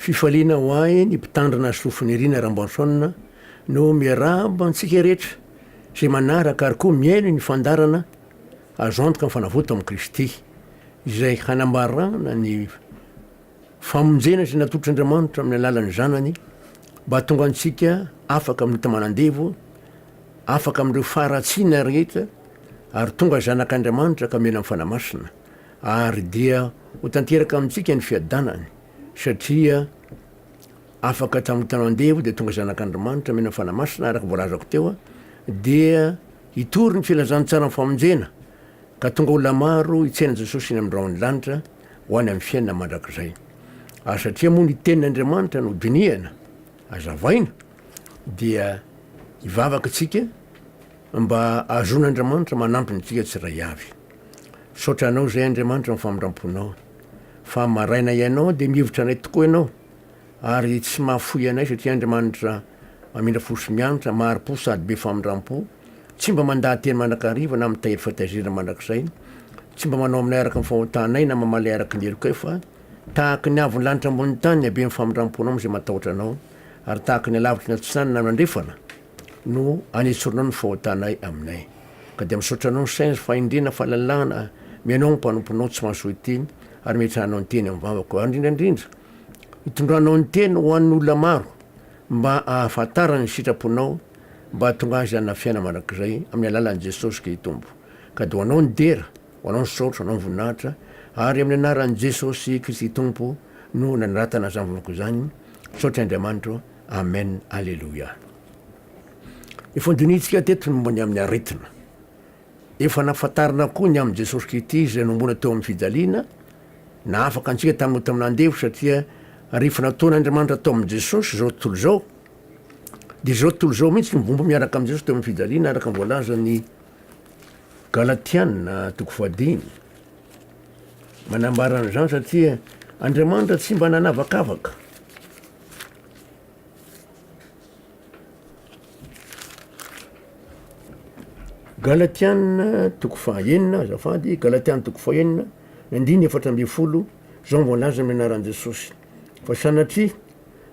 Fifaliana ho ahy ny mpitandrina soa Finiariana Rambanson no miarahaba antsika rehetra izay manaraka ary koa mihaino ny fandaharana Azo antoka ny fanavotana amin'i Kristy izay hanambarana ny famonjena izay natotr'Andriamanitra amin'ny alalan'ny Zanany mba hahatonga antsika afaka amin'ny ota manandevo, afaka amin'ireo faharatsiana rehetra ary tonga zanak'Andriamanitra ka mena amin'ny Fanahy Masina ary dia ho tanteraka amintsika ny fiadanany. Satria afaka tamin'ny tany andevo dia tonga zanak'Andrimanitra mena fanahy masina araka voalazako teo dia hitory ny filazantsaran'ny famonjena ka tonga olona maro hitsaina an'i Jesosy eny amin'ny rahon'ny lanitra ho any amin'ny fiainana mandrakizay. Ary satria moa ny tenin'Andriamanitra no dinihana, azavaina, dia hivavaka isika mba hahazoan'Andriamanitra manampy antsika tsiraiavy. Misaotra anao izay Andriamanitra ny famindramponao fa maraina ianao dia mihevitra anay tokoa ianao ary tsy mahafoy anay satria Andriamanitra mamindra fo sy mianatra mahari-po sady be famindrampo tsy mba mandaha-teny mandrakariva na mitahiry fitaizina mandrakizay tsy mba manao aminay araka ny fahotanay na mamaly araka ny helokay fa tahaky ny avon'ny lanitra ambonin'ny tany haben'ny famindramponao amin'izay matahotra anao ary tahaky ny alavitry ny atsinainy na ny andrefana no anesorinao ny fahotanay aminay. Ka dia misaotra anao Sainjo fahendrena fahalalahana mianao ny mpanomponao tsy mahasoa ity ary metrahanao ny teny amin'ny vavako ary indrindra indrindra hitondranao ny teny ho an'ny olona maro mba ahafantarany ny sitraponao mba hahatonga azy hanana fiainana mandrakizay amin'ny alalan'i Jesosy Kri Tompo ka dia ho anao ny dera ho anao ny saotra ho anao ny voninahitra ary amin'ny anaran'i Jesosy Kristy Tompo no nanoratana izany vavako izany misaotra Andriamanitro Amen Aleloia. Ny fandinihintsika teto ny momba ny amin'ny aretina. Efa nafantarina koa ny amin'i Jesosy Kristy izay nomoana teo amin'ny fijaliana, nahafaka antsika tamin'ny ota amin'ny andevo satria rehefa nataon'Andriamanitra tao amin'i Jesosy izao tontolo izao, dia izao tontolo izao mihitsy no mibomba miaraka amin'i Jesosy teo amin'ny fijaliana araka ny voalazan'ny Galatiana toko fahadimy. Manambara an'izany satria Andriamanitra tsy mba nanavakavaka Galatiana toko fahaenina, azafady, Galatiana toko fahaenina, andiny efatra ambin'ny folo, izao voalaza amin'ny anaran'i Jesosy. Fa sanatria,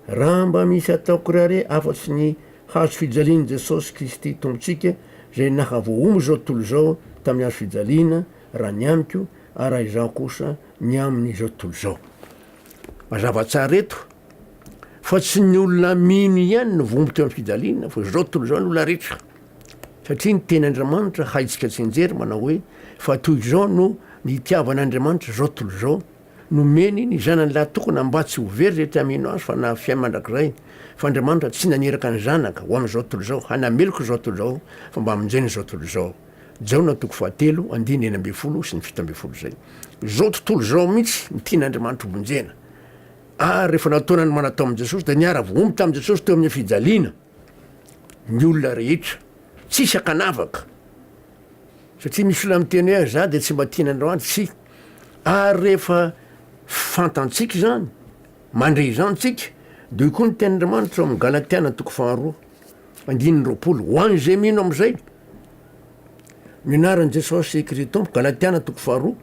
raha mba misy ataoko rare afa-tsy ny hazo fijalian'i Jesosy Kristy Tompontsika, izay naha voaombo izao tontolo izao tamin'ny hazo fijaliana, raha ny amiko, ary raha izaho kosa ny amin'izao tontolo izao. Mazava tsara eto fa tsy ny olona mino ihany no voaomby teo am-pijaliana fa izao tontolo izao ny olona rehetra satria ny teny Andriamanitra haitsika tsinjery manao hoe fa toy izao no nitiavan' Andriamanitra izao tontolo izao nomeny ny zanany lahy tokana mba tsy ho very izay te hamino azy fa na fiain mandrakizay fa Andriamanitra tsy naniraka ny zanaka ho amin'izao tontolo izao hanameloka izao tontolo izao fa mba hamonjena izao tontolo izao. Jaona toko fahatelo andininy enina ambin'ny folo sy ny fito ambin'ny folo izay. Izao tontolo izao mihitsy no tian'Andriamanitra hovonjena. Ary rehefa nataona ny manatao amin'i Jesosy dia niara-vohomby tamin'i Jesosy teo amin'ny fijaliana ny olona rehetra. Tsisy ankanavaka. Satria misy olona miteny hoe izaho dia tsy mba tian'Andriamanitra. Tsia. Ary rehefa fantantsika izany, mandre izany tsika, dia hoy koa ny tenin'Andriamanitra ao amin'ny Galatiana toko faharoa andininy roapolo, ho an'izay mino amin'izay, Ny anaran'i Jesosy Kritompo, Galatiana toko faharoa,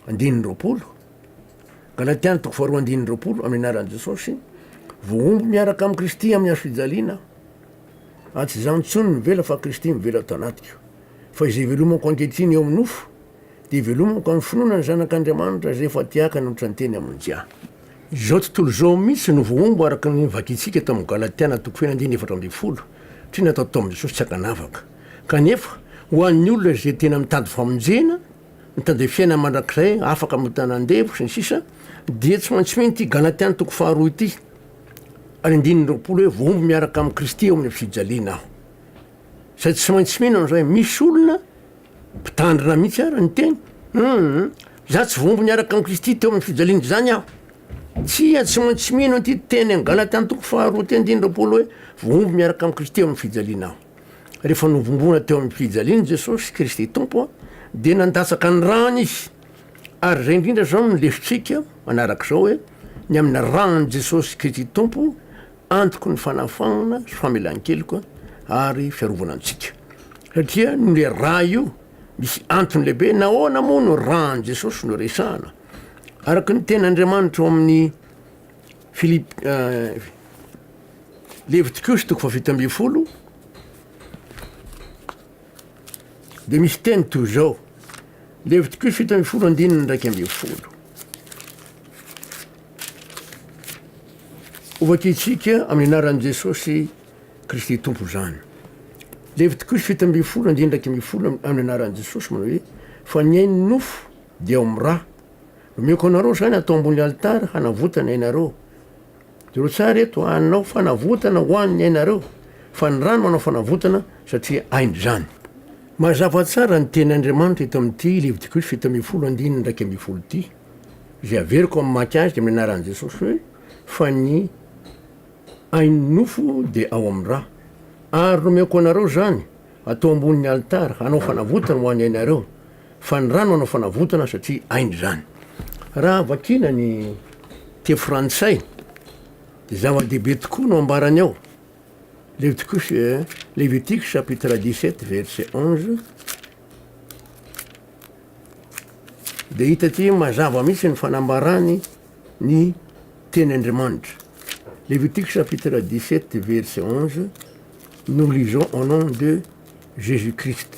andininy roapolo. Galatiana toko faharoa, andininy roapolo, amin'ny anaran'i Jesosy, vohombo miaraka amin'i Kristy amin'ny hazo fijaliana, ary tsy izaho intsony mivela fa Kristy mivela ato anatiko. Fa izay ivelomako ankehitriny eo amin'ny nofo, dia ivelomako amin'ny finoana ny Zanak'Andriamanitra izay efa tiaka nanohitra ny teny amin'ny Jah. Izao tontolo izao mihitsy no voahombo araka ny vakintsika tao amin'ny Galatiana toko feno andininy efatra ambin'ny folo, satria natao tao amin'i Jesosy tsy ankanavaka. Kanefa, ho an'ny olona izay tena mitady famonjena, mitady fiainana mandrakizay afaka amin'ny tanan-devo, sy ny sisa, dia tsy maintsy mino ity Galatiana toko faharoa ity ary andininy roapolo hoe voahombo miaraka amin'i Kristy eo amin'ny fijaliana aho. Izay tsy maintsy mino an'izay, misy olona Mpitandrina mihitsy ary ny teny. Humm za tsy voambo niaraka amin'i Kristy teo amin'ny fijaliana izany aho. Tsia, tsy maintsy mino an'ity teny any Galatia antoko faharoa teny dimy amby roapolo hoe voambo miaraka amin'i Kristy eo amin'ny fijaliana aho. Rehefa novombona teo amin'ny fijaliana i Jesosy, Kristy Tompo, dia nandatsaka ny rany izy. Ary izay indrindra izao no lesotsika manaraka izao hoe ny amin'ny ran'i Jesosy Kristy Tompo, Antoko ny fanafahana sy famelan-keloka ary fiarovana antsika. Satria nle ra io misy antony lehibe nahoana moa no ra an'i Jesosy no resahana. Araka ny teny Andriamanitra ao amin'ny Filip, Levitikus toko fahafito ambin'ny folo, dia misy teny toy izao, Levitiko fito ambin'ny folo andininy iraika ambin'ny folo. Hovakintsika amin'ny anaran'i Jesosy Kristy Tompo izany. Levitiko fito ambin'ny folo andininy iraika ambin'ny folo amin'ny anaran'i Jesosy manao hoe fa ny ainy nofo dia ao amin'ny ra. Nomeoko anareo izany atao ambony alitara hanavotana ianareo. Jereo tsara eto, hanao fanavotana ho an' ny ainareo, fa ny rano manao fanavotana, satria ainy izany. Mazava tsara ny tenin' Andriamanitra eto amin' ity lividiko fito ambin'ny folo andininy iraika ambin'ny folo ity, izay averiko amin' ny mamaky azy dia amin' ny anaran' Jesosy hoe, Fa ny ain' ny nofo dia ao amin' ny ra. Ary nomeko anareo izany, hatao ambonin' ny alitara, hanao fanavotana ho an' ny ainareo. Fa ny rano hanao fanavotana satria aina izany. Raha vakiana ny teny frantsay dia zava-dehibe tokoa no ambarany ao. Leviticus, Levitique chapitre 17 verset 11 dia hita aty mazava mihitsy ny fanambarany ny teny Andriamanitra. Levitique chapitre 17 verset 11 nous lisons au nom de Jésus-Christ.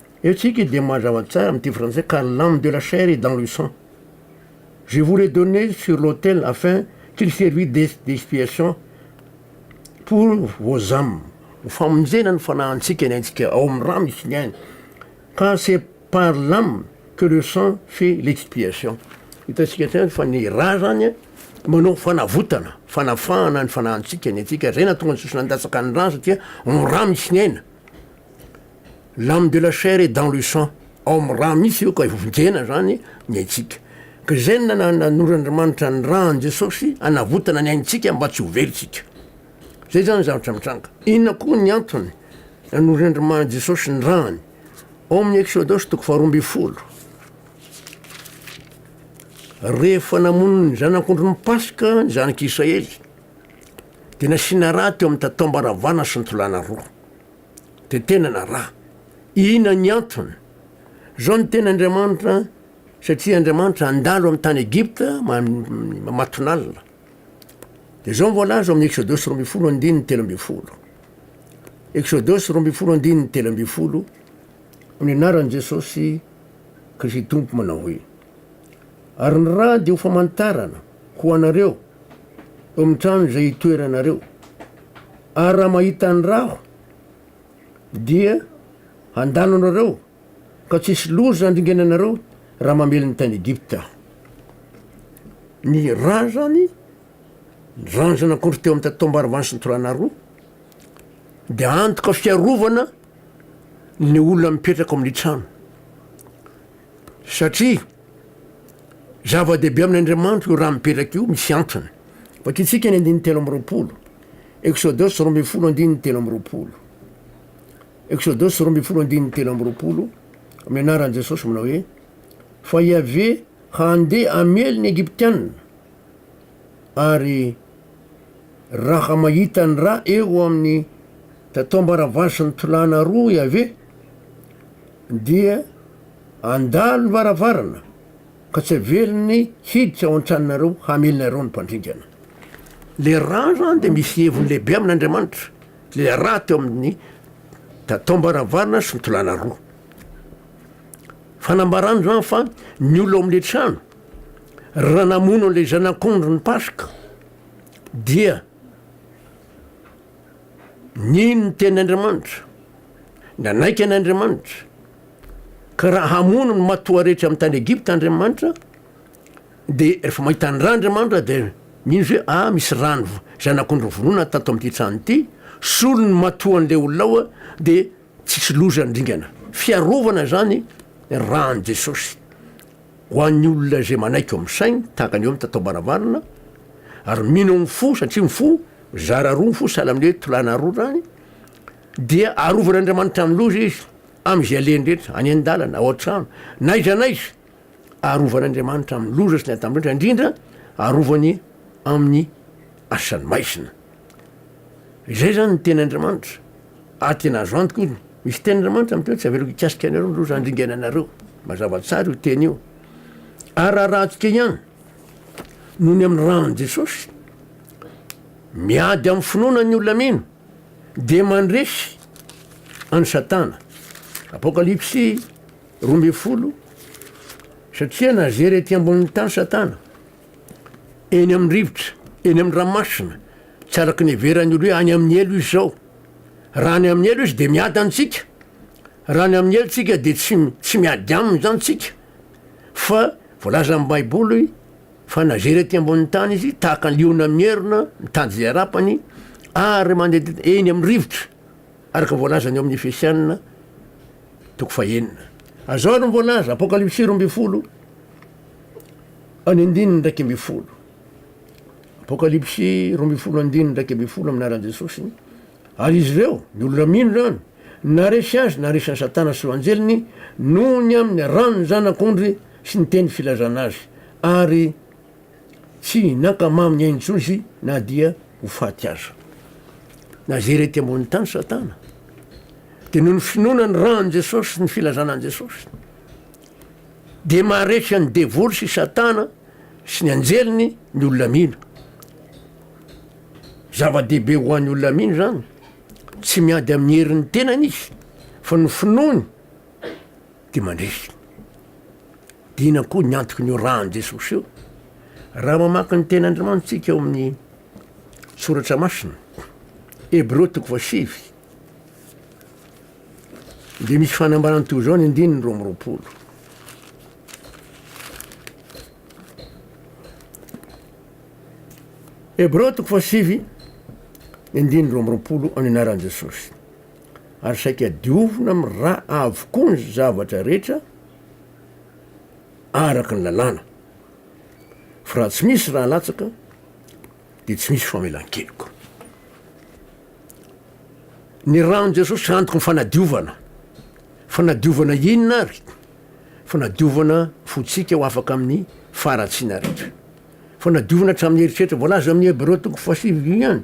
Eo tsika dia mazava tsara amin'ity frantsay ka l'âme de la chair est dans le sang. Je vous les donner sur l'autel afin qu'il servit d'expiation pour vos âmes. Ho famonjena ny fanahantsika ny aintsika ao amin'ny rano isika any ka c'est par l'âme que le sang fait l'expiation. Hitantsika hatrany fa ny ra zany manao fanavotana, fanafahana ny fanahantsika ny aintsika, zay nahatonga ny sosona nilatsaka ny ra satria ao amin'ny rano isika aina. L'âme de la chair est dans le sang, ao amin'ny rà mihitsy io ka vonjena izany ny aintsika. Ka izay no nanoran'Andriamanitra ny rà an'i Jesosy hanavotana ny aintsika mba tsy ho very isika. Izay izany ny zavatra mitranga. Inona koa ny antony nanoran'Andriamanitra Jesosy ny ràny? Ao amin'ny Exodosy toko faharoa ambin'ny folo, rehefa namono ny zanak'ondry ny Paska ny zanak'Israely dia nasiana rà teo amin'ny tataom-baravana sy ny tolàna roa. de tena na ra. Ina ny antony? Zao ny teny Andriamanitra satria Andriamanitra andalo amin'ny tany Egypta matonalina. De zao ny voalaza amin'ny Exodosy roa ambin'ny folo andininy telo ambin'ny folo. Exodosy roa ambin'ny folo andininy telo ambin'ny folo ny anaran'i Jesosy Kristy Tompo manao hoe ary ny ra de ho famantarana ho anareo eo amin'ny trano izay itoeranareo. Ary raha mahita ny ràko dia handalo anareo, ka tsy hisy loza handringana anareo raha mamely ny tany Egypta aho. Ny rà izany, ny ranjan'akondro teo amin'ny taom-barivany sy ny torana roa, dia antoka fiarovana ny olona mipetraka ao amin'ny trano. Satria zava-dehibe amin'Andriamanitra io rà mipetraka io, misy antony. Vakitsika ny andininy telo amby roapolo. Exodus roa ambin'ny folo andininy telo amby roapolo Exodus roa ambin'ny folo andininy telo amby roapolo amin'ny anaran'i Jesosy manao hoe fa Yaveh handeha hamely ny Egyptianina ary raha mahita ny ra eo amin'ny tataom-baravasin'ny tolàna roa Yaveh dia andalo ny varavarana Ka tsy averiny hiditra ao an-tranonareo hamely anareo ny mpandringana. Ilay rà izany dia misy heviny lehibe amin'Andriamanitra. Ilay rà teo amin'ny tataom-baravarana sy ny tolàna roa. Fanambarana izany fa ny olona ao amin'ilay trano, raha namono an'ilay zanak'ondry ny Paska, dia nino ny tenin'Andriamanitra, nanaiky an'Andriamanitra, Ka raha hamono ny matoa rehetra amin'ny tany Egypta Andriamanitra, dia rehefa mahita ny rà Andriamanitra, dia mino izy hoe, ah, misy rà ny zanak'ondry nivononana tato amin'ity trano ity, solony ny matoan'ilay olona ao, dia tsisy loza ny dingana. Fiarovana izany ny ràn'i Jesosy ho an'ny olona izay manaiky eo amin'ny sainy, tahaka ny eo amin'ny tataom-baravarana, ary mino amin'ny fo, satria ny fo, zara roa ny fo, sahala amin'ny hoe tolàna roa izany, Dia arovan'Andriamanitra amin'ny loza izy amin'izay alehany rehetra, any an-dalana, ao an-trano, na aiza na aiza. Arovan'Andriamanitra amin'ny loza sy ny atam-drehetra, indrindra arovany amin'ny asan'ny maizina. Izay izany ny tenin'Andriamanitra, ary tena azo antoka io. Misy tenin'Andriamanitra miteny hoe tsy averiko hikasika anareo ny loza handringana anareo. Mazava tsara io teny io. Ary rarahantsika ihany, noho ny amin'ny ran'i Jesosy, miady amin'ny finoana ny olona mino. Dia mandresy an'i Satana, Apokalypsy roa ambin'ny folo, satria nazery ety ambonin'ny tany Satana, eny amin'ny rivotra, eny amin'ny ranomasina, tsy araka ny heveran'ny olo hoe any amin'ny helo izy izao. Raha any amin'ny helo izy dia miady antsika, raha any amin'ny helo tsika dia tsy tsy miady aminy izany tsika, fa voalazan'ny baiboly Fa na very aty ambonin'ny tany izy, tahaka ny liona mierona mitady izay harapany, ary mandehandeha eny amin'ny rivotra, araka ny voalazany ao amin'ny Efesiana toko fahenina. Azao ary ny voalaza, Apokalypsy roa ambin'ny folo, any andininy iraika ambin'ny folo. Apokalypsy roa ambin'ny folo andininy iraika ambin'ny folo amin'ny anaran'i Jesosy. Ary izy ireo, ny olona mino izany, naresy azy, naresy an'i Satana sy ho anjeliny, noho ny amin'ny ran'ny Zanak'ondry, sy ny teny filazana azy, ary tsy nankamamy ny ainy intsony izy na dia ho faty aza. Nazery ety ambony tany Satana, dia noho ny finoana ny ran'i Jesosy sy ny filazana an'i Jesosy, dia maharesy an'i devoly sy Satana sy ny anjeliny ny olona mino. Zava-dehibe ho an'ny olona mino izany, tsy miady amin'ny herin'ny tenany izy, fa ny finoany, dia mandresy. Dia inona koa ny antoky ny orahan'i Jesosy io? Raha mamaky ny tenin'Andriamanitra tsika ao amin'ny soratra masina, Hebreo toko fahasivy, dia misy fanambarana toy izao ny andininy roa ambiroapolo. Hebreo toko fahasivy ny andininy roa ambiroapolo amin'ny anaran'i Jesosy. ary saika diovina amin'ny ra avokoa ny zavatra rehetra araka ny lalàna, fa raha tsy misy ra latsaka dia tsy misy famelan-keloka. Ny ran'i Jesosy antoky ny fanadiovana. Fanadiovana inona ary? Fanadiovana fontsika ho afaka amin'ny faharatsiana rehetra. Fanadiovana hatramin'ny eritreritra voalaza amin'ny Hebreo toko fahasivy ihany,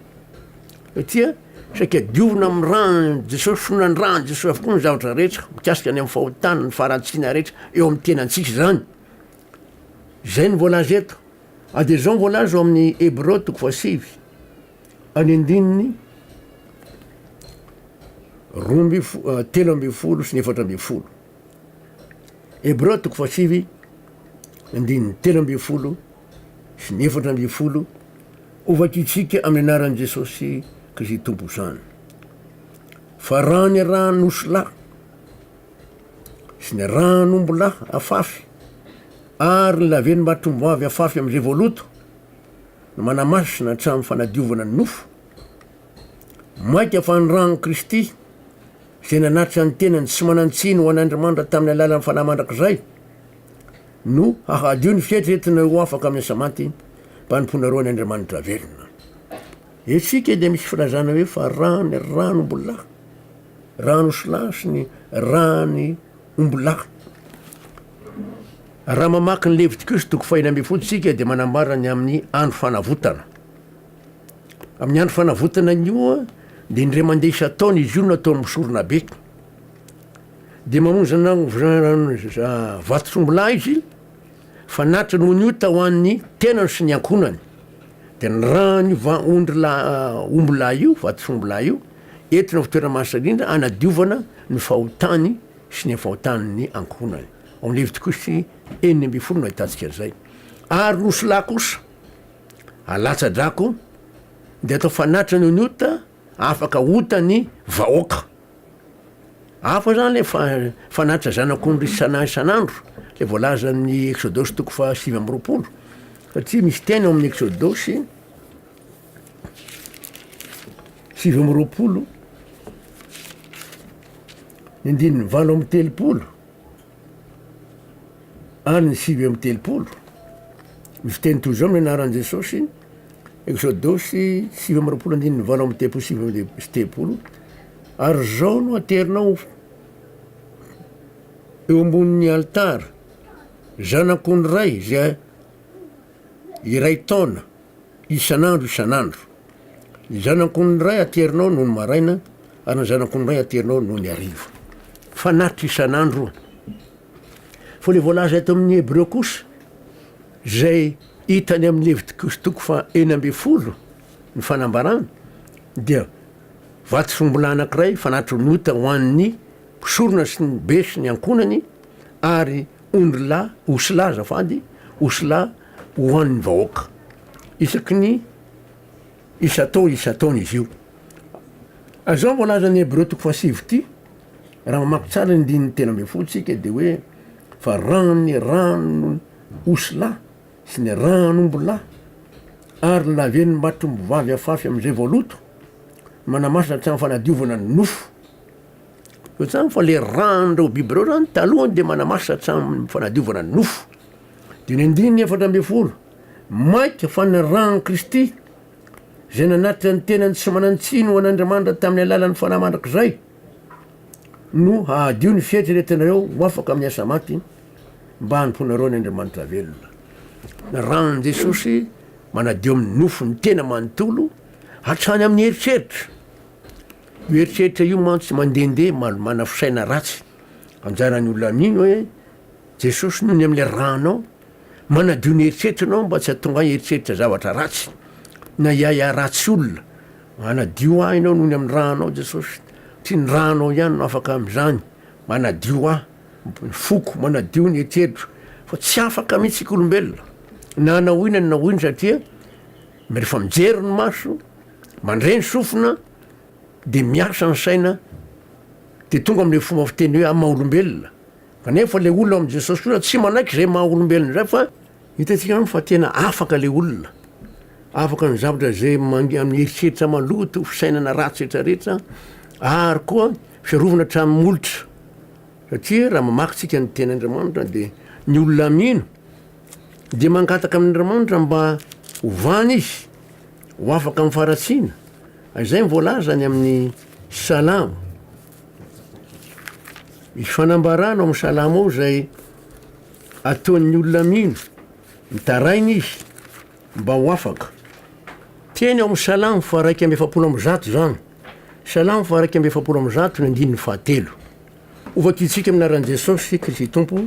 satria saika diovina amin'ny ran'i Jesosy, finoana ny ran'i Jesosy avokoa ny zavatra rehetra mikasika ny amin'ny fahotana, ny faharatsiana rehetra eo amin'ny tenantsika izany. Izay ny voalaza eto. A dia izao ny voalaza ao amin'ny Hebreo toko fahasivy, any andininy roa ambin'ny fo- eh, telo ambin'ny folo sy ny efatra ambin'ny folo. Hebreo toko fahasivy andininy telo ambin'ny folo sy ny efatra ambin'ny folo hovakitsika amin'ny anaran'i Jesosy Kristy Tompo izany. Fa raha ny ran'osilahy sy ny ran'ombilahy afafy ary ny laven'ny mahatromboavy afafy amin'izay voaloto no manamasina hatramin'ny fanadiovana ny nofo, maika fa ny ran'i Kristy izay nanatitra ny tenany sy manan-tsiny ho an'Andrimandra tamin'ny alalan'ny fanahy mandrakizay, no hahadio ny fieritreretana ho afaka amin'ny asa maty mba hanompoana roa ny Andriamanitra velona. Etsika dia misy filazana hoe fa rany rany ombolahy, rany osilahy sy ny rany ombolahy. Raha mamaky ny Levitikosy toko fahina ambin'ny folo isika dia manambara ny amin'ny andro fanavotana. Amin'ny Andro Fanavotana ny Io dia indray mandeha isan-taona izy io no atao amin'ny soronabe. Dia mamonjy vatotr'ombilahy izy fa natra noho ny ota ho an'ny tenany sy ny ankohonany. Dia ny ran'io va- ondry la- ombilahy io, vatotr'ombilahy io, entina ho toerana mahasina indrindra hanadiovana ny fahotany sy ny fahotan'ny ankohonany. Ao amin'ny Levitikusy enina ambin'ny folo no ahitantsika an'izay. Ary ny osilahy kosa, Alatsadrako de atao fanatitra ny ny ota afaka ota ny vahoaka. Hafa zany le fa- fanatitra zanak'ondry isana- isan'andro le voalaza amin'ny exodosy toko faha sivy amby roapolo satria misy teny ao amin'ny exodosy sivy amby roapolo ny andininy valo amby telopolo. Any sivy amby telopolo, misy teny toy izao nianaran'i Jesosy, Eksodosy sivy amby roapolo andininy valo amby telopolo sy sivy amby telopolo sy telopolo, Ary izao no aterinao eo ambonin'ny alitara, zanako ny iray izay iray taona, isan'andro isan'andro. Ny zanako ny iray aterinao nony maraina ary ny zanako ny iray aterinao nony hariva. Fanatitra isan'andro. Fa ilay voalaza eto amin'ny Hebreo kosa, izay hita any amin'ny Levitikosy toko fa enina ambin'ny folo ny fanambarana, dia vato sombola anankiray fanatitra ny ota ho an'ny mpisorona sy ny be sy ny ankohonany ary ondrilahy osy lahy azafady, osy lahy ho an'ny vahoaka isaky ny isan-taona isan-taona izy io. Izao no voalazan'ny Hebreo toko fahasivy ity, raha mamaky tsara ny andininy telo ambin'ny folo isika dia hoe fa raha ny rano osilahy sy ny ranombilahy ary ny lavenon'ny matrombivavy afafy amin'izay voaloto manamasina hatramin'ny fanadiovana ny nofo. Eo tsamy fa le rano reo biby reo zany talohany de manamasina hatramin'ny fanadiovana ny nofo. Dia ny andininy efatra ambin'ny folo, Maika fa ny ran'i Kristy, izay nanatitra ny tenany tsy manan-tsiny ho an'Andriamanitra tamin'ny alalan'ny fanahy mandrakizay, no hahadio ny fieritreretanareo ho afaka amin'ny asa maty, mba hanompoanareo ny Andriamanitra velona. Ny ran'i Jesosy manadio amin'ny nofo ny tena manontolo, hatrany amin'ny eritreritra. Io eritreritra io mantsy mandehandeha malomana fisaina ratsy. Anjaran'ny olona amin'iny hoe Jesosy nony amin'ilay ranao, manadio ny eritreritranao mba tsy hahatonga ahy hieritreritra zavatra ratsy, na hiahiahy ratsy olona. Manadio ahy Ianao nony amin'ny ranao Jesosy, satria ny ranao ihany no afaka amin'izany. Manadio ahy, ny foko, manadio ny eritreritro, fa tsy afaka mihitsy isika olombelona, na hanao inona na inona satria rehefa mijery ny maso, mandre ny sofina, dia miasa ny saina, dia tonga amin'ilay fomba fiteny hoe amin'ny maha olombelona. Kanefa le olona ao amin'i Jesosy kosa tsy manaiky izay maha olombelona izay fa hitantsika izany fa tena afaka le olona, afaka ny zavatra izay amin'ny eritreritra maloto, fisainana ratsy rehetra rehetra ary koa fiarovana hatramin'ny molotra. Satria raha mamaky tsika ny teny Andriamanitra dia ny olona mino dia mangataka amin'Andriamanitra mba hovany izy ho afaka amin'ny faratsiana. Izay voalaza any amin'ny Salamo Misy fanambarana ao amin'ny salamo ao izay ataon'ny olona mino, mitaraina izy mba ho afaka. Teny ao amin'ny salamo faharaika amby efapolo amby zato izany. Salamo faharaika amby efapolo amby zato ny andininy fahatelo. Ho vakintsika amin'ny anaran'i Jesosy Kristy Tompo,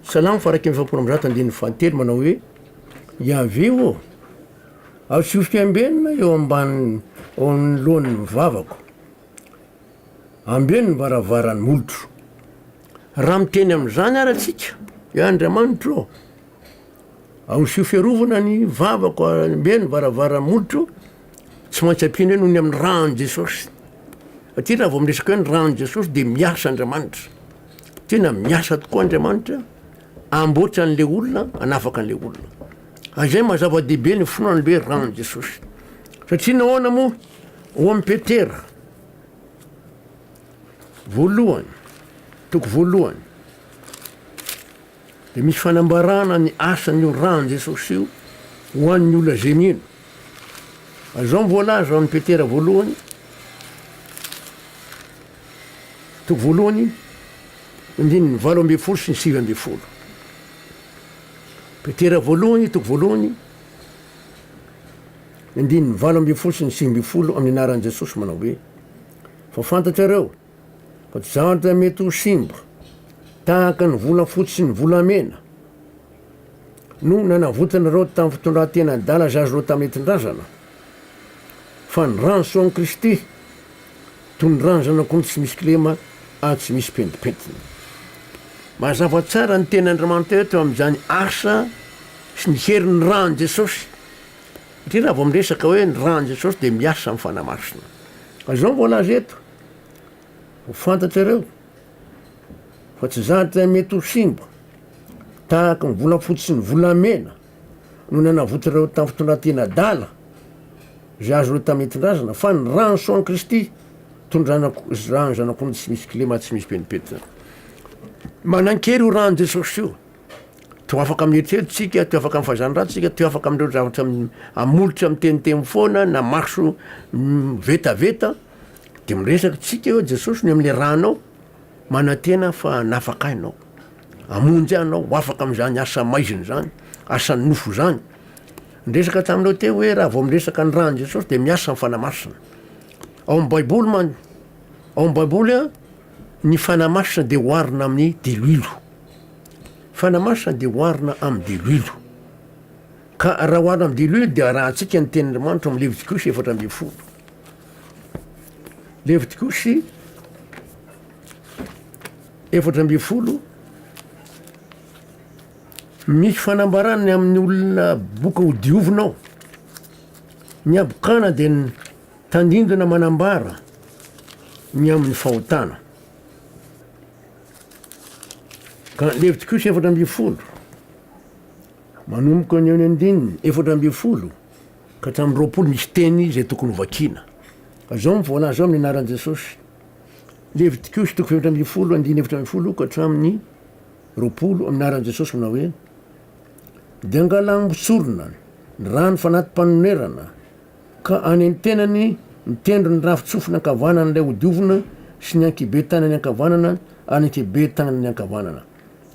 salamo faharaika amby efapolo amby zato andininy fahatelo manao hoe Yaveh ô, atsofoko ambenina eo ambanin'ny eo amin'ny lohan'ny vavako. ambeno ny varavaran'ny molotro. Raha miteny amin'izany ary antsika, hoe Andriamanitro ô, ahosio fiarovana ny vavako, ambeno ny varavaran'ny molotro, tsy maintsy ampiana hoe noho ny amin'ny ran'i Jesosy. Satria raha vao miresaka hoe ny ran'i Jesosy dia miasa Andriamanitra. Tena miasa tokoa Andriamanitra, amboatra an'ilay olona, anafaka an'ilay olona. Ary izay maha zava-dehibe ny finoana ny hoe ran'i Jesosy. Satria nahoana moa? Ao amin'ny Petera voalohany, toko voalohany, dia misy fanambarana ny asan'io ran'i Jesosy io ho an'ny olona izay mino. Azao ny voalaza ao amin'ny Petera voalohany, toko voalohany, andininy valo ambin'ny folo sy ny sivy ambin'ny folo. Petera voalohany, toko voalohany, Andininy valo ambin'ny folo sy ny sivy ambin'ny folo Amin'ny anaran'i Jesosy manao hoe, Fa fantatrareo fa tsy zavatra mety ho simba tahaka ny volafotsy sy ny volamena no nanavotanareo tamin'ny fitondran-tena adala izay azonao tamin'ny netrin-drazana, fa ny ran'ny soan'i Kristy, toy ny ran'ny zanak'ondry tsy misy kilema ary tsy misy pentimpentina. Mazava tsara ny tenin'Andriamanitra eto amin'izany asa sy ny herin'ny ran'i Jesosy. Satria raha vao miresaka hoe ny ran'i Jesosy dia miasa amin'ny fanahy masina. Ka izao no voalaza eto, ho fantatrareo fa tsy zavatra mety ho simba tahaka ny volafotsy sy ny volamena no nanavotrareo tamin'ny fitondrantena adala izay azonareo tamin'ny nentin-drazana, fa ny ran'ny soan'i Kristy toy ny ranako, ran'ny Zanak'ondry tsy misy kilema, tsy misy penimpentina. Manan-kery io ran'i Jesosy io. Toa afaka amin'ny eritreritro tsika, toa afaka amin'ny fahazany ratsy tsika, toa afaka amin'ireo zavatra amolotra miteniteny foana na maso vetaveta, de miresaka tsika eo Jesosy ny amin'le rà anao, manantena fa hanafaka ahy anao, hamonjy ahy anao, ho afaka amin'izany asa maizina zany, asan'ny nofo zany. Niresaka taminao teo hoe raha vao miresaka ny ràn'i Jesosy de miasa ny Fanahy Masina. Ao amin'ny baiboly man- ao amin'ny baiboly a. Ny Fanahy Masina dia oharina amin'ny diloilo. Fanahy Masina dia oharina amin'ny diloilo. Ka raha oharina amin'ny diloilo dia arahantsika ny tenin'Andriamanitra amin'ny Levitikosy efatra ambin'ny folo. Levitikosy efatra ambin'ny folo misy fanambarany amin'ny olona boka ho diovinao. Ny abokana dia ny Tandindona manambara ny amin'ny fahotana. Ka Levitikosa efatra ambin'ny folo, manomboka ny eo ny andininy efatra ambin'ny folo ka hatramin'ny roapolo misy teny izay tokony ho vakiana. Ka izao no voalaza ao amin'ny anaran'i Jesosy. Levitikosa toko fahefatra ambin'ny folo, andininy efatra ambin'ny folo ka hatramin'ny roapolo amin'ny anaran'i Jesosy manao hoe, Dia angalà ambotsorona ny rano fanati-panonerana, Ka any an-tenany, ny tendron'ny rafin-tsofina ankavanan'ilay hodiovina sy ny ankibe tanany ankavanana ary ny ankibe tanany ankavanana.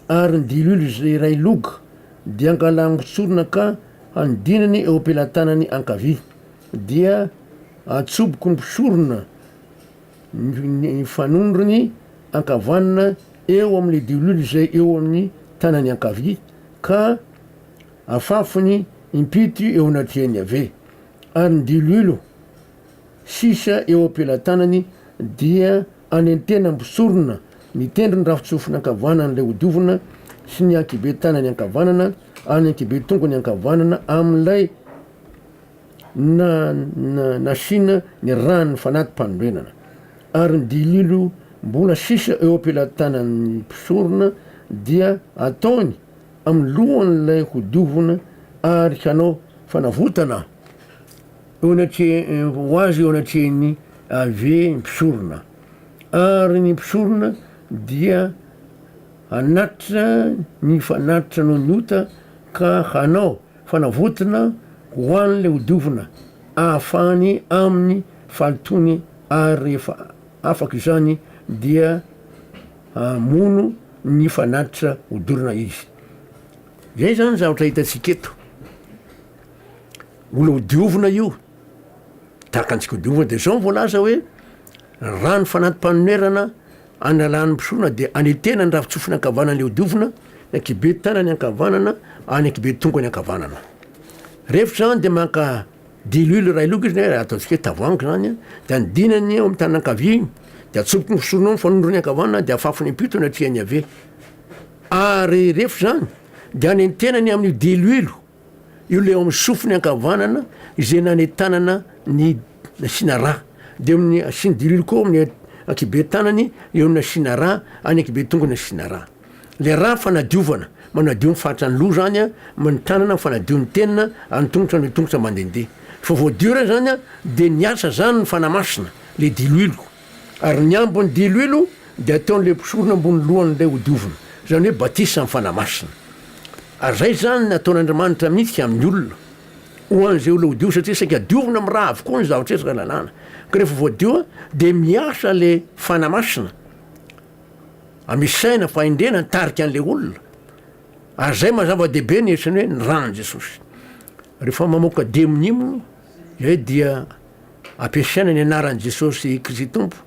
Ary ny diloilo izay iray log dia angalangotsorina ka hanodinany eo am-pelatanany ankavia, dia atsoboko ny mpisorona ny fanondrony ankavanana eo amin'ilay diloilo izay eo amin'ny tanany ankavia, ka Afafy ny impito eo anatrehan'i Yaveh, ary ny diloilo sisa eo am-pelatanany dia anentena mpisorona mitendry ny rafitsofiny ankavanan'ilay hodiovina sy ny ankibe tanany ankavanana ary ny ankibe tongony ankavanana amin'ilay nasiana ny ran'ny fanati-panorenana, ary ny diloilo mbola sisa eo am-pelatanan'ny mpisorona dia ataony amin'ny lohan'ilay hodiovina ary hanao fanavotana ho azy eo anatrehin'i Yaveh ny mpisorona. Ary ny mpisorona dia hanatitra ny fanatitra noho ny ota ka hanao fanavotana ho an'ilay hodiovina ahafahany amin'ny fahalotoany ary rehefa afaka izany dia hamono ny fanatitra hodorana izy. Zay zany zavatra hitantsika eto. Mbola hodiovina io. Tahaka antsika hodiovina de zao voalaza hoe rano fanati-panonerana analan'ny mpisona de anetena ny rafitsofina ankavanana le hodiovina, ny ankibe tanany ankavanana, any ankibe tongony ankavanana. Rehefa zany de maka Diluile iray loka izy na ataontsika hoe tavoahangy zany a, dia ny dinany ao amin'ny tanana ankavia iny dia atsoboky ny fisorona ao amin'ny fanondrony ankavanana dia afafiny am-pito ny aty an'ny havia. Ary rehefa izany dia anentenany amin'io diluile io ilay ao amin'ny sofiny ankavanana izay nanentanana ny nasiana rà. Dia amin'ny asiany diluile koa ao amin'ny ankibe tanany eo ny nasiana rà, any ankibe tongony nasiana rà. Le raha fanadiovana, manadio ny faritra ny loha zany a, ny tanana fanadio ny tenina, any tongotra ny tongotra mandendeha. Fa voadio re zany a, de ny asa zany ny fanamasina le diloilo. Ary ny ambiny diloilo de ataony le mpisorona ambony lohany le hodiovina. Zany hoe batisa ny fanamasina. Ary zay zany ny ataon' Andriamanitra mintsy amin' ny olona, ho an' izay olona hodio satria saika diovina am ra avokoa ny zavatra eto ra lalàna. Ka refa voadio a, de miasa le fanamasina. Amisaina ny fahendrena nitarika an'ilay olona. Ary izay maha zava-dehibe ny hetsiny hoe ny ran'i Jesosy. Rehefa mamoaka demony moa iray dia ampiasaina ny anaran'i Jesosy Kristy Tompo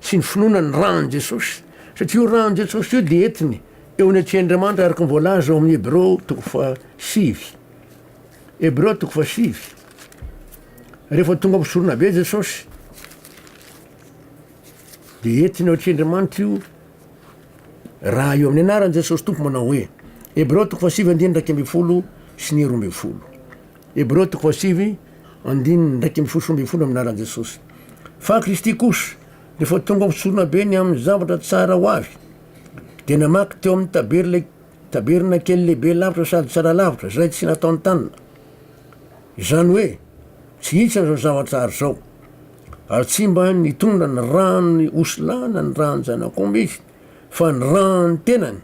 sy ny finoana ny ran'i Jesosy satria io ran'i Jesosy io dia entiny eo ny Antsian'Andriamanitra araka ny voalaza ao amin'ny Hebreo toko fahasivy. Hebreo toko fahasivy. Rehefa tonga amin'ny soronabe Jesosy Dia entina eo atrendrimanitra io raha io amin'ny anaran'i Jesosy Tompo manao hoe Hebreo toko fahasivy andininy iraika ambin'ny folo sy ny roa ambin'ny folo Hebreo toko fahasivy andininy iraika ambin'ny folo sy roa ambin'ny folo amin'ny anaran'i Jesosy fa Kristy kosa rehefa tonga ho mpitsorona be ny amin'ny zavatra tsara ho avy dia namaky teo amin'ny taberle taberna kely lehibe lavitra sady tsara lavitra izay tsy nataon-tanana izany hoe tsy hitsiny izao zavatra ary izao ary tsy mba nitondra ny ran'ny osilahy na ny ran'ny zanak'omby izy, fa ny ran'ny tenany,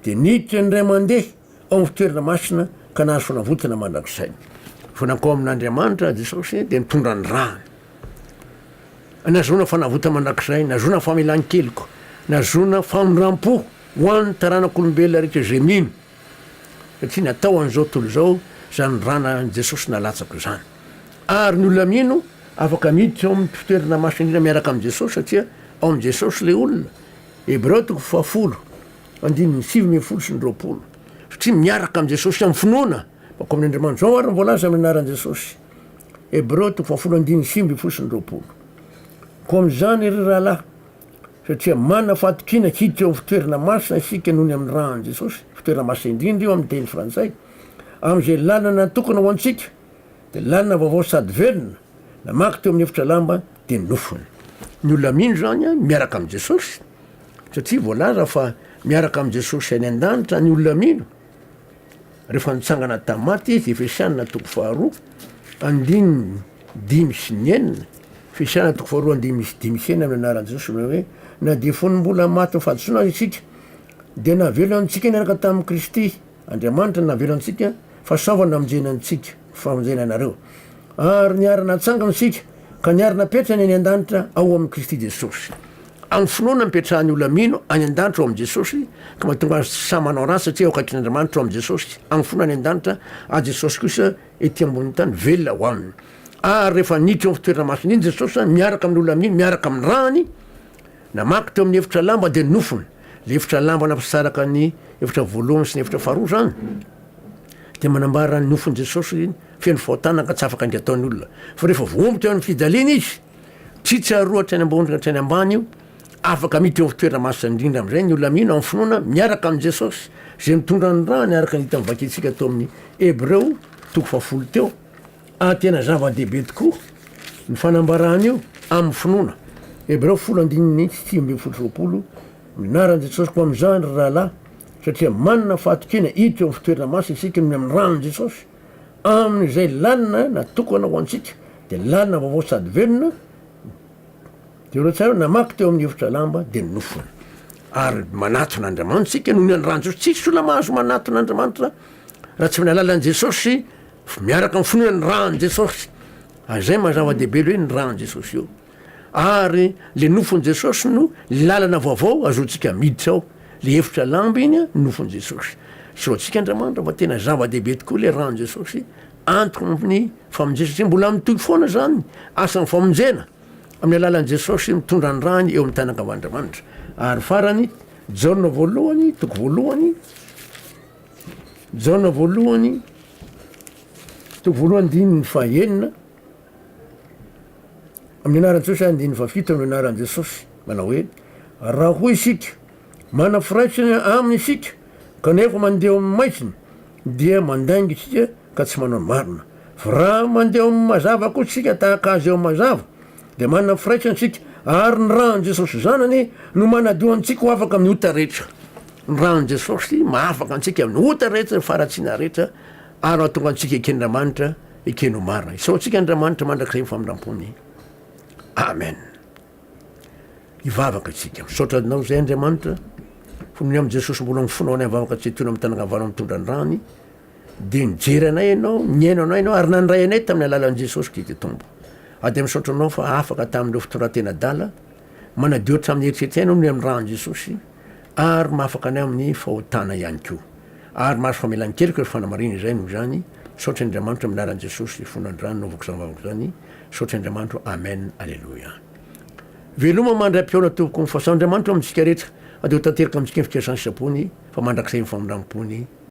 dia niditra indray mandeha ao amin'ny fitoerana masina ka nahazo fanavotana mandrakizay. Fa nankao amin'Andriamanitra Jesosy dia nitondra ny rany. Nahazoana fanavotana mandrakizay, nahazoana famelan-keloka, nahazoana famindram-po ho an'ny taranak'olombelona rehetra izay mino, satria natao an'izao tontolo izao izany ranan'i Jesosy nalatsaka izany. Ary ny olona mino afaka miditra ao amin'ny mpifoterana maso indrindra miaraka amin'i Jesosy satria ao amin'i Jesosy ilay olona, Hebreo toko fahafolo, andininy sivy ambin'ny folo sy ny roapolo. Satria miaraka amin'i Jesosy amin'ny finoana baka ao amin'Andriamanitra. Izao ary no voalaza amin'ny anaran'i Jesosy, Hebreo toko fahafolo, andininy sivy ambin'ny folo sy ny roapolo, Koa amin'izany, ry rahalahy, satria manana fahatokiana hiditra eo amin'ny fitoerana masina isika noho ny amin'ny ran'i Jesosy, fitoerana masina indrindra io amin'ny teny frantsay, amin'izay lalana natokana ho antsika, Dia lalina vaovao sady velona, namaky teo amin'ny efitra lamba dia nofony. Ny olona mino izany an, miaraka amin'i Jesosy, satria voalaza fa miaraka amin'i Jesosy any an-danitra ny olona mino, rehefa nitsangana tamin'ny maty Izy, Efesiana toko faharoa, andininy dimy sy ny enina, Efesiana toko faharoa andininy sy dimy sy enina amin'ny anaran'i Jesosy ilay hoe, na dia fony mbola maty ny fahadisoana aza isika, dia navelona antsika niaraka tamin'i Kristy. Andriamanitra no navela antsika fa sao fa namonjeny antsika, famonjena anareo. Ary niara-natsangana isika ka niara-napetrany any an-danitra ao amin'i Kristy Jesosy. Amin'ny finoana nipetrahan'ny olona mino any an-danitra ao amin'i Jesosy ka mahatonga azy tsy sahy manao ratsy satria eo akaikin'Andriamanitra ao amin'i Jesosy. Amin'ny finoana any an-danitra azy Jesosy kosa ety ambonin'ny tany velona ho aminy. Ary rehefa niditra eo amin'ny fitoerana masina iny Jesosy miaraka amin'ny olona mino miaraka amin'ny rany namaky teo amin'ny efitra lamba dia nofony. Ilay efitra lamba nampisaraka ny efitra voalohany sy ny efitra faharoa izany dia manambara ny nofin'i Jesosy feno fahotana ka tsy afaka indray atao ny olona. Fa rehefa voaombo teo amin'ny fijaliana izy, tsy tsaroa hatrany ambony ka hatrany ambany io, afaka miditra eo amin'ny toerana masina indrindra amin'izay ny olona mino amin'ny finoana miaraka amin'i Jesosy izay mitondra ny rany araka ny hita mivakintsika teo amin'ny Hebreo toko fahafolo teo. A Tena zava-dehibe tokoa ny fanambarana io amin'ny finoana. Hebreo folo andininy sy sivy ambin'ny folo sy roapolo Mianaran'i Jesosy koa amin'izany, ry rahalahy, satria manana fahatokiana hiditra eo amin'ny fitoerana masina isika noho ny amin'ny ran'i Jesosy. Amin'izay lalina natokana ho antsika, dia lalina vaovao sady velona, dia ireo tsirairay namaky teo amin'ny efitra lamba dia nofona. Ary manatona Andriamanitra isika noho ny an'ny ran'i Jesosy. Tsisy olona mahazo manatona Andriamanitra raha tsy amin'ny alalan'i Jesosy Fa miaraka amin'ny finoana ny ran'i Jesosy, ary izay maha zava-dehibe ilay hoe ny ran'i Jesosy io. Ary ilay nofon'i Jesosy no lalana vaovao azoantsika miditra ao, ilay hefotra lamba iny an, ny nofon'i Jesosy. Sao antsika Andriamanitra fa tena zava-dehibe tokoa ilay ran'i Jesosy, antoko amin'ny famonjena, satria mbola mitohy foana izany asan'ny famonjena amin'ny alalan'i Jesosy mitondra ny rany eo amin'ny tany ankavan'Andriamanitra. Ary farany, Jaona voalohany, toko voalohany, Jaona voalohany toko voalohany andininy fahenina amin'ny anaran'i Jesosy ary andininy fahafito amin'ny anaran'i Jesosy manao hoe raha hoy isika mana firaisana aminy isika kanefa mandeha amin'ny maizina dia mandainga isika ka tsy manao ny marina fa raha mandeha amin'ny mazava koa isika tahaka azy eo mazava dia manana ny firaisana isika, ary ny ran'i Jesosy Zanany no manadio antsika ho afaka amin'ny ota rehetra. Ny ran'i Jesosy mahafaka antsika amin'ny ota rehetra, ny faharatsiana rehetra, ary mahatonga antsika eken'Andriamanitra, ekeny ho marina. Isaoantsika Andriamanitra mandrakizay ny famindrampony. Amen. Hivavaka isika. Misaotra anao izay Andriamanitra, fony amin'i Jesosy mbola mifonao any amin'ny vavaka tsy etoina amin'ny tanagna valo mitondra ny rany, Dia nijery anay Ianao, nihaino anay Ianao, ary nandray anay tamin'ny alalan'i Jesosy Kristy Tompo. Ary dia misaotra Anao fa afaka tamin'ireo fitondran-tena adala, manadio hatramin'ny eritreritray Ianao noho ny amin'ny ran'i Jesosy, ary mahafaka anay amin'ny fahotana ihany koa. Ary mahazo famelan-keloka ireo fanamarihana izay noho izany. Misaotra Andriamanitra amin'ny anaran'i Jesosy fony androany naovako izany vavaka izany. Misaotra Andriamanitro. Amen. Aleloia. Veloma mandray am-pihaona tompoko. Ny fahasoavan'Andriamanitra eo amintsika rehetra. Adio tanteraka amintsika ny fikasan'ny sitrapony, fa mandrakizay ny famindram-pony.